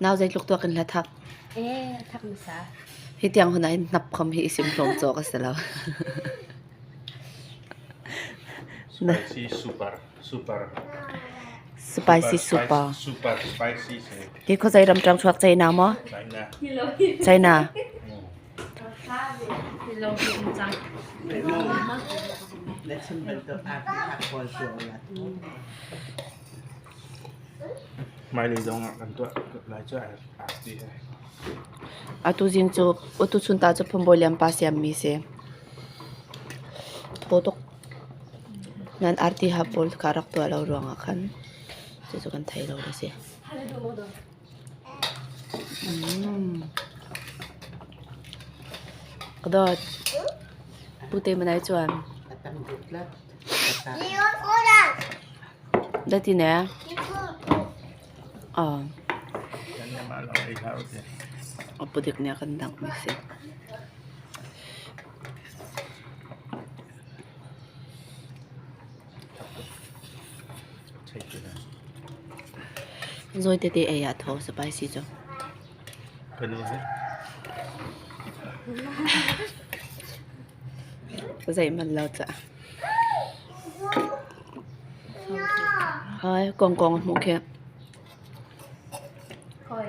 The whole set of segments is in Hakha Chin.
Nau zeitluk tuak in hla thak. Eh, thak hmasa. Hi tiang hun ein hnap khom hi isim hlawm cawk a si lo. Spicy super, super. Spicy super. Super spicy. Ki kho zai ram trang chuak chai na mo? China. China. Hello, Chang. Let's invent the party hot ball to Atu zing cu utuchun ta cu phunbawi lianpa siammi si. Thaw tuk nan arti ha pawl kha rak tuah lo ruangah khan cucu kan thei lo a si. Mm. Kadawt, pute manai chuan A pudik nih a kan danghmi a si. Zawi tete ei ah thaw a si pai si cu. Ka nu hi zeihmanh lo cah. Hai kongkong a hmuh khi. Hoi.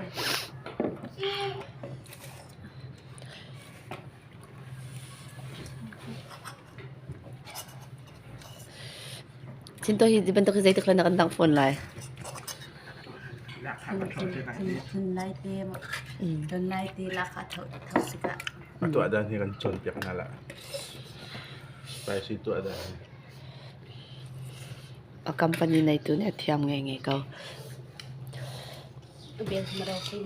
Thinto hi bantuk hi zeitik hlan ah kan tang fawn lai. Thun lai te don lai te laka tho tho sika. A tu ada ni kan chon piak na la. Spicy tu ada ni. A company nei tu ne thiam nge nge ko. Biang maro kin.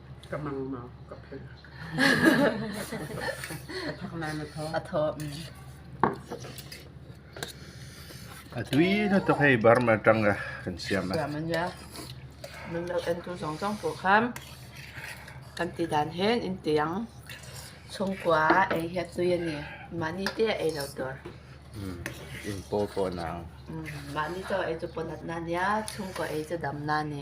ka mangmau ka phel a thak na na tho a tho a tui na to hei bar ma tang ga kan siam ma man ya min lo en tu zong zong po kham kan ti dan hen in tiang chung kwa ei he tu ani mani te ei lo tur in po po nang mani to ei tu ponat na nia chung ko ei tu dam na ni